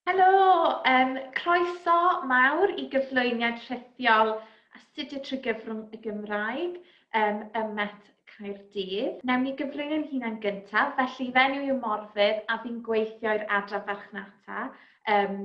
Helo, um, croeso mawr i gyflwyniad rhithiol astudio trwy gyfrwng y Gymraeg um, ym Met Caerdydd. Newn ni gyflwyno'n hunan gyntaf, felly fe enw yw Morfydd a fi'n gweithio i'r adran farchnata um,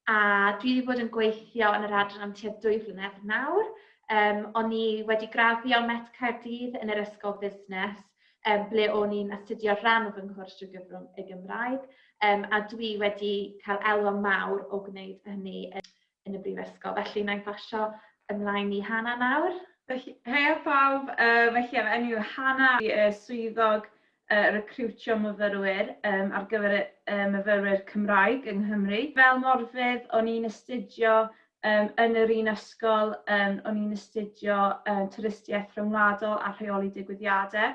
a dwi wedi bod yn gweithio yn yr adran am tua dwy flynedd nawr. Um, o'n i wedi graddio Met Caerdydd yn yr Ysgol Busnes um, ble o'n i'n astudio rhan o fy nghwrs drwy gyfrwng y Gymraeg, um, a dwi wedi cael elwa mawr o gwneud hynny yn y brifysgol. Felly, na i basio ymlaen i Hana nawr. Hei a pawb, uh, felly am enw Hana, i uh, swyddog uh, recriwtio myfyrwyr um, ar gyfer uh, myfyrwyr Cymraeg yng Nghymru. Fel morfydd, o'n i'n astudio Yym yn yr un ysgol yym o'n i'n astudio yy twristiaeth rhyngwladol a rheoli digwyddiade.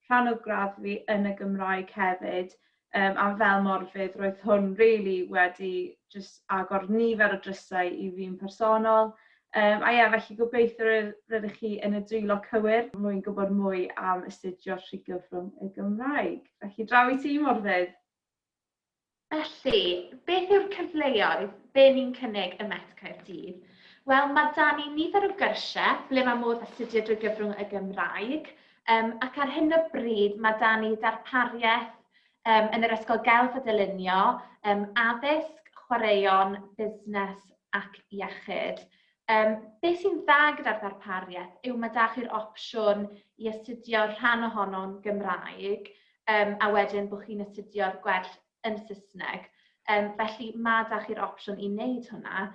Rhan o gradd fi yn y Gymraeg hefyd yym a fel morfydd roedd hwn rili wedi jyst agor nifer o drysau i fi'n personol. Yym a ie felly gobeithio ry- rydych chi yn y dwylo cywir mwyn gwybod mwy am astudio Rhygyfrwng y Gymraeg. Felly draw i ti morfydd! Felly, beth yw'r cyfleoedd be ni'n cynnig ym Met Caerdydd? Wel, mae 'da ni nifer o gyrsiau ble mae modd astudio drwy gyfrwng y Gymraeg, um, ac ar hyn o bryd mae 'da ni ddarpariaeth um, yn yr Ysgol Gelf a Dylunio, um, addysg, chwaraeon, busnes ac iechyd. Um, be sy'n dda gyda'r ddarpariaeth yw mae da chi'r opsiwn i astudio rhan ohono'n Gymraeg, um, a wedyn bod chi'n astudio'r gwerth yn Saesneg. Um, felly mae da chi'r opsiwn i wneud hwnna,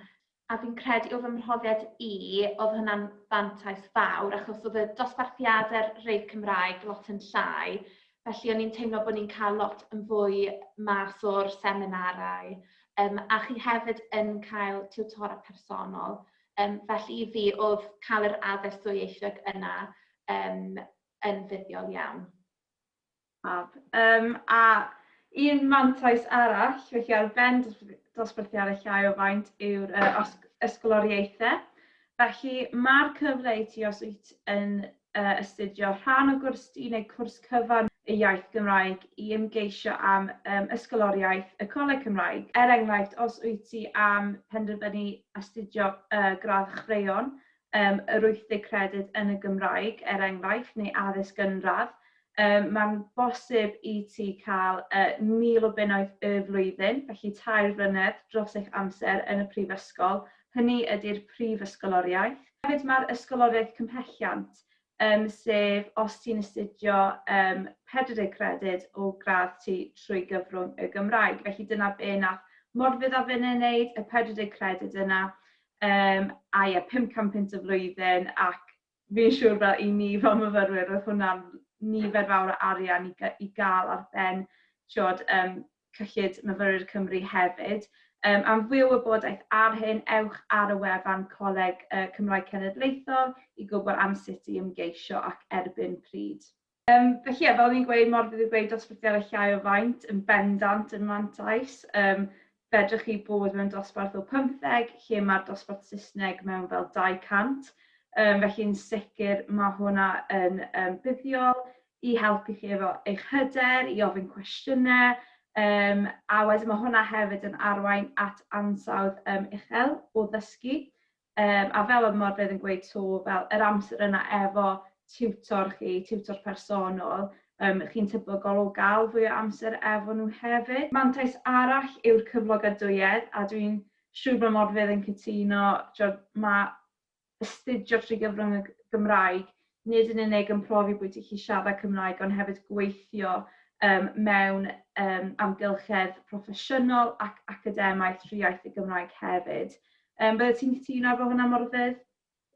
a fi'n credu o fy mhrofiad i, oedd hwnna'n fantais fawr, achos oedd y dosbarthiadau'r rei Cymraeg lot yn llai, felly o'n i'n teimlo bod ni'n cael lot yn fwy mas o'r seminarau, um, a chi hefyd yn cael tiwtora personol. Um, felly i fi, oedd cael yr addysg dwyieithog yna um, yn fuddiol iawn. Fab. Um, a un mantais arall, felly ar ben dosbarthiad y llai o faint yw'r uh, ysgoloriaethau. Felly mae'r cyfle i ti os wyt yn uh, astudio rhan o gwrs di neu cwrs cyfan y iaith Gymraeg i ymgeisio am um, ysgoloriaeth y Coleg Cymraeg. Er enghraifft, os wyt ti am penderfynu astudio uh, gradd chwreion, yym yr 80 credyd yn y Gymraeg, er enghraifft, neu addysg gynradd, um, mae'n bosib i ti cael uh, 1,000 o bunnoedd y flwyddyn, felly tair flynedd dros eich amser yn y prifysgol. Hynny ydy'r prif ysgoloriaeth. Hefyd mae'r ysgoloriaeth cymhelliant, um, sef os ti'n astudio um, 40 credyd o gradd ti trwy gyfrwng y Gymraeg. Felly dyna be nath Morfydd a Fynne wneud, y 40 credyd yna, um, a ie, 500 pint y flwyddyn, ac fi'n siŵr fel i ni fel myfyrwyr, oedd hwnna'n nifer fawr o arian i, i gael ar ben tiod, um, Cyllid Myfyrwyr Cymru hefyd. Um, am fwy o wybodaeth ar hyn, ewch ar y wefan Coleg uh, Cymraeg Cenedlaethol i gwybod am sut i ymgeisio ac erbyn pryd. Um, felly, yeah, fel ni'n gweud, mor fydd yn gweud dosbarthiadau llai o faint yn bendant yn mantais. Um, fedrwch chi bod mewn dosbarth o 15, lle mae'r dosbarth Saesneg mewn fel 200. Um, felly'n sicr mae hwnna yn um, buddiol. i helpu chi efo eich hyder, i ofyn cwestiynau, yym a wedyn ma' hwnna hefyd yn arwain at ansawdd yym uchel o ddysgu. Yym a fel oedd Morfydd yn gweud 'to, fel yr amser yna efo tiwtor chi, tiwtor personol, yym chi'n tebygol o gael fwy o amser efo nhw hefyd. Mantais arall yw'r cyflogadwyedd a dwi'n siŵr bod Morfydd yn cytuno, timod ma' astudio trwy gyfrwng y Gymraeg, nid yn unig yn profi bod hi siarad Cymraeg ond hefyd gweithio um, mewn um, amgylchedd proffesiynol ac academaidd trwy iaith y Gymraeg hefyd. Um, Bydde ti'n cytuno efo hwnna, Morfydd?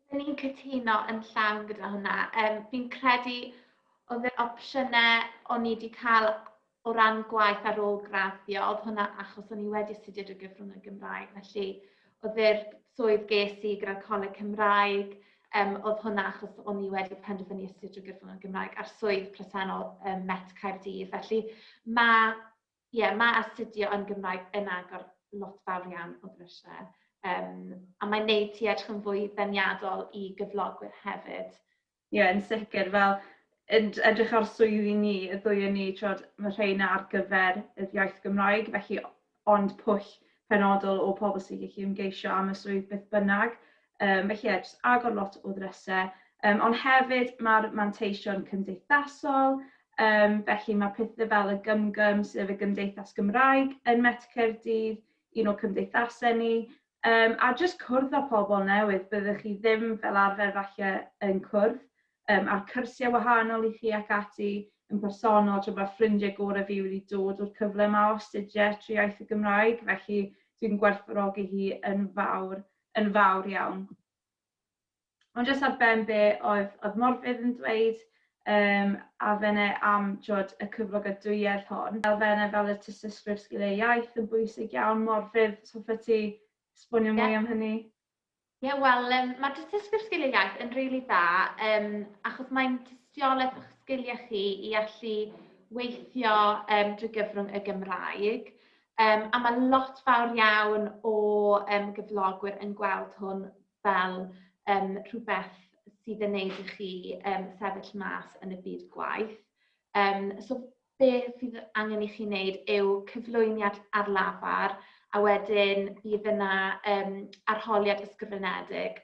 Byddwn ni'n cytuno yn llawn gyda hwnna. Um, fi'n credu oedd yr opsiynau o'n i wedi cael o ran gwaith ar ôl graddio, oedd hwnna achos o'n i wedi astudio drwy gyfrwng y Gymraeg, felly oedd yr swydd ges i gyda'r Coleg Cymraeg, um, oedd hwnna achos o'n i wedi penderfynu astudio drwy gyfrwng y Gymraeg a'r swydd presennol um, Met Caerdydd. Felly mae, yeah, mae astudio yn Gymraeg yn agor lot fawr iawn o ddrysiau. Um, a mae'n neud ti edrych yn fwy ddeniadol i gyflogwyr hefyd. Ie, yn sicr. Fel, yn edrych ar swyddi ni, y ddwy o ni, t'wod, ma' rheina ar gyfer yr iaith Gymraeg, felly ond pwll penodol o pobl sy'n gallu ymgeisio am y swydd beth bynnag. Um, felly ie, jyst agor lot o ddrysau. Um, ond hefyd mae'r manteision cymdeithasol, um, felly mae pethau fel y gymgym sydd y Gymdeithas Gymraeg yn Met Caerdydd, un o cymdeithasau ni, Yym a jyst cwrdd â pobl newydd, byddech chi ddim fel arfer falle yn cwrdd yym a'r cyrsiau wahanol i chi ac ati yn bersonol, t'wod ma'r ffrindie gore fi wedi dod o'r cyfle 'ma o astudie trwy iaith y Gymraeg, felly dwi'n gwerthfawrogi hi yn fawr, yn fawr iawn. Ond jyst ar ben be oedd, oedd Morfydd yn dweud, um, a fene am jod, y cyflogadwyedd hon. Fel fene, fel y tystysgrif sgiliau iaith yn bwysig iawn. Morfydd, so ffa ti sbonio mwy yeah. am hynny? Ie, yeah, wel, um, mae tystysgrif sgiliau iaith yn rili really dda, um, achos mae'n tystiolaeth o'ch sgiliau chi i allu weithio um, drwy gyfrwng y Gymraeg. Um, a mae lot fawr iawn o um, gyflogwyr yn gweld hwn fel yym rhywbeth sydd yn wneud i chi yym sefyll mas yn y byd gwaith. Yym so beth sydd angen i chi wneud yw cyflwyniad ar lafar a wedyn bydd yna um, arholiad ysgrifenedig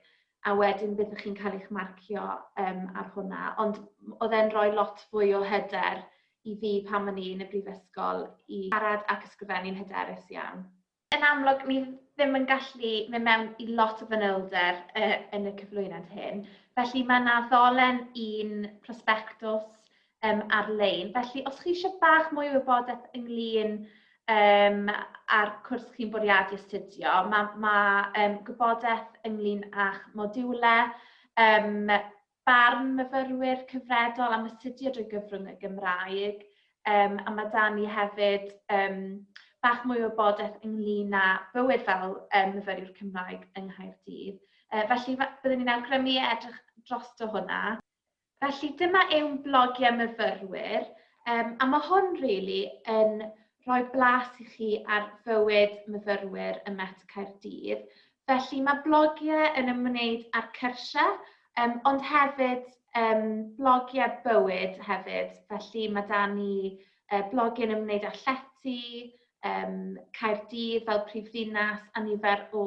a wedyn byddwch chi'n cael eich marcio um, ar hwnna. Ond oedd e'n rhoi lot fwy o hyder i fi pan o'n i yn y brifysgol i siarad ac ysgrifennu'n hyderus iawn. Yn amlwg, ni ddim yn gallu mynd mewn i lot o fanylder uh, yn y cyflwyniad hyn. Felly mae yna ddolen un prospectus um, ar-lein. Felly os chi eisiau bach mwy o wybodaeth ynglyn um, a'r cwrs chi'n bwriadu astudio, mae ma, um, gwybodaeth ynglyn â'ch modiwlau, um, barn myfyrwyr cyfredol am astudio drwy gyfrwng y Gymraeg, um, a mae dan ni hefyd um, bach mwy o wybodaeth ynglyn â bywyd fel um, myfyriwr Cymraeg yng Nghaerdydd. Uh, felly, byddwn ni'n awgrymu edrych dros o hwnna. Felly, dyma yw'n blogiau myfyrwyr, um, a mae hwn, really, yn rhoi blas i chi ar fywyd myfyrwyr ym Met Caerdydd. Felly mae blogiau yn ymwneud â'r cyrsiau, um, ond hefyd um, blogiau bywyd hefyd. Felly mae da ni uh, blogiau yn ymwneud â llety, um, Caerdydd fel prif ddinas a nifer o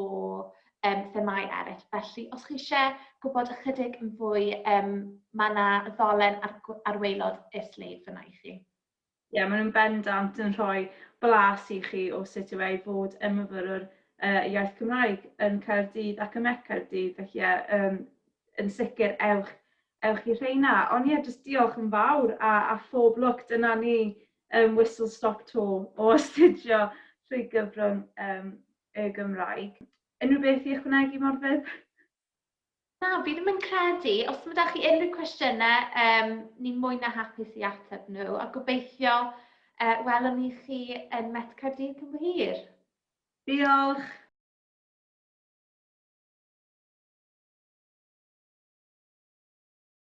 um, themau eraill. Felly, os chi eisiau gwybod ychydig yn fwy, um, mae yna ddolen ar, ar waelod y sleif fyna i chi. Ie, maen nhw'n bendant yn rhoi blas i chi o sut yw e i fod yn myfyrwr yy iaith Cymraeg yn Caerdydd ac ym Met Caerdydd, felly ie yym yn sicr ewch ewch i rheina. Ond ie, jyst diolch yn fawr a a phob lwc, dyna ni yym whistle stop tour o astudio trwy gyfrwng yym y Gymraeg. Unrhyw beth i ychwanegu Morfydd? Na, fi ddim yn credu. Os mae da chi unrhyw cwestiynau, um, ni'n mwy na hapus i ateb nhw, a gobeithio uh, welwn ni chi yn Met Caerdydd cyn hir. Diolch!